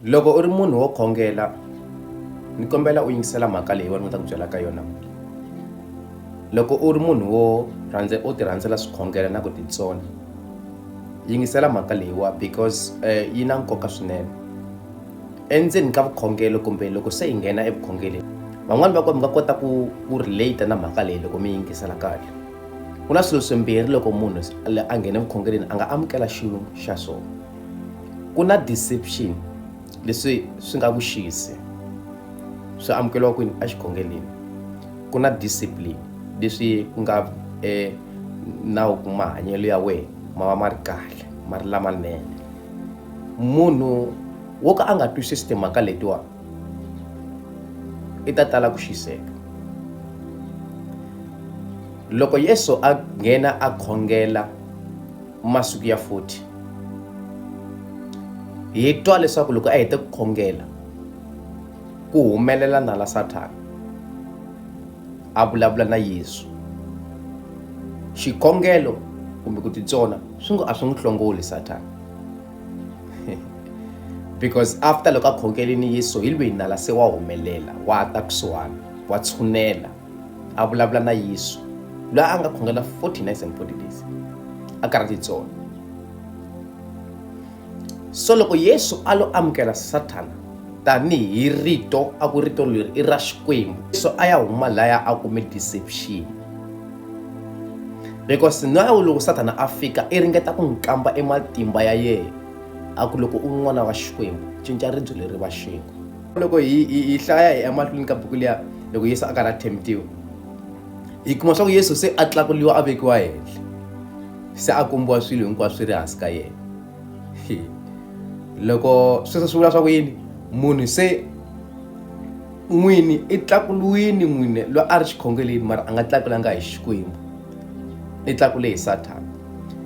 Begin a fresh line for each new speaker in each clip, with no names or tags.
Loko u ri munhu wo khongela ni kombela u yingisela mhaka leyi wena u ta ku byela ka yona loko u ri munhu wo rhandza u ti rhandzela swikhongela na ku titsona yingisela mhaka leyiwa because eh, yi na nkoka swinene endzeni ka vukhongelo kumbe loko se yi nghena evukhongeleni van'wani va ko mi nga kota ku ku relate na mhaka leyi loko mi yingisela kahle ku na swilo swimbirhi loko munhu a nghene vukhongeleni a nga amukela xilo xa swona ku na deception leswi swi nga vuxisi swi amukeriwa kwini exikhongeleni ku na discipline leswi ku nga e nawu ku mahanyelo ya wena ma va ma ri kahle ma ri lamanene munhu wo ka a nga twisisi timhaka letiwa i ta tala ku xiseka loko yesu a nghena a khongela masiku ya 40 hi twa leswaku loko a hete ku khongela ku humelela nala sathana a vulavula na yesu xikhongelo kumbe ku titsona swi ngo a swi n'wi hlongoli sathana because after loko a khongelini yesu hi lweyi nala se wa humelela wa ta kusuhana wa tshunela a vulavula na yesu loyi a nga khongela 40 nights and 40 days a karhi titsona so loko yesu a lo amukela sathana tanihi rito a ku rito leri i ra xikwembu so a ya huma laya a kume deception because na loko sathana a fika i ringeta ku n'wi kamba ematimba ya yena a ku loko u n'wana wa xikwembu cinca ribyo leri va xingu loko hi hi hlaya hi emahlweni ka buku liya loko yesu a karhi a themtiwa hi kuma swa ku yesu se a tlakuliwa a vekiwa henhla se a kombiwa swilo hinkwaswo swi ri hansi ka yena loko sweswo swi vula swa ku yini munhu se n'wini i tlakuliwini n'wini loyi a ri xikhongeleni mara a nga tlakulanga hi xikwembu i tlakule hi sathana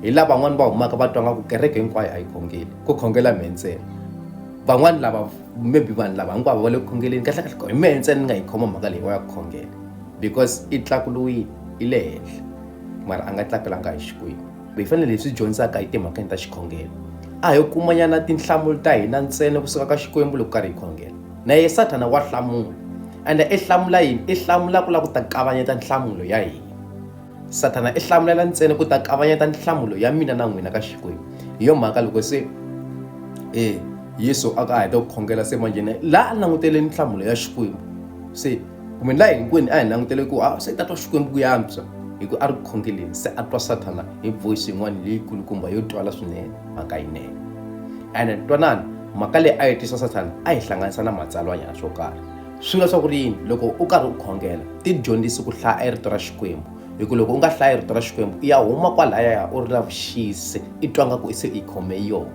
hi laha van'wani va humaka va twa nga ku kereke hinkwayo a yi khongeli ku khongela mhe ntsena van'wani lava maybe vanhu lava hinkwavo va le ku khongeleni kahlekahle hi mehe ntsena ni nga yi khoma mhaka leyi va ya ku khongela because i tlakuluwile i le henhla mara a nga tlakelanga hi xikwembu hi fanele hi swi dyondzaka hi timhakeni ta xikhongelo a hi kumanyana tinhlamulo ta hina ntsena kusuka ka xikwembu loko karhi hi khongela na ye sathana wa hlamula ende i hlamula yini i hlamula ku lava ku ta kavanyeta nhlamulo ya hina sathana i hlamulela ntsena ku ta kavanyeta nhlamulo ya mina na n'wina ka xikwembu hi yo mhaka loko se e yesu a ka a heta ku khongela se manjheni laha a langutele nhlamulo ya xikwembu se kumbe laha hinkwenu a hi langutele ku a se ta twa xikwembu ku yantswa hi ku a ri khongeleni se a twa sathana hi voice yin'wana leyi kulukumba yo twala swinene mhaka yinene ene twanana mhaka leyi a yi twisa sathana a yi hlanganisa na matsalwanyana swo karhi swi nga swa ku ri yini loko u karhi u khongela ti dyondzisi ku hlaya rito ra xikwembu hi ku loko u nga hlayi rito ra xikwembu i ya huma kwalaya u ri na vuxisi i twa nga ku i se i khome yona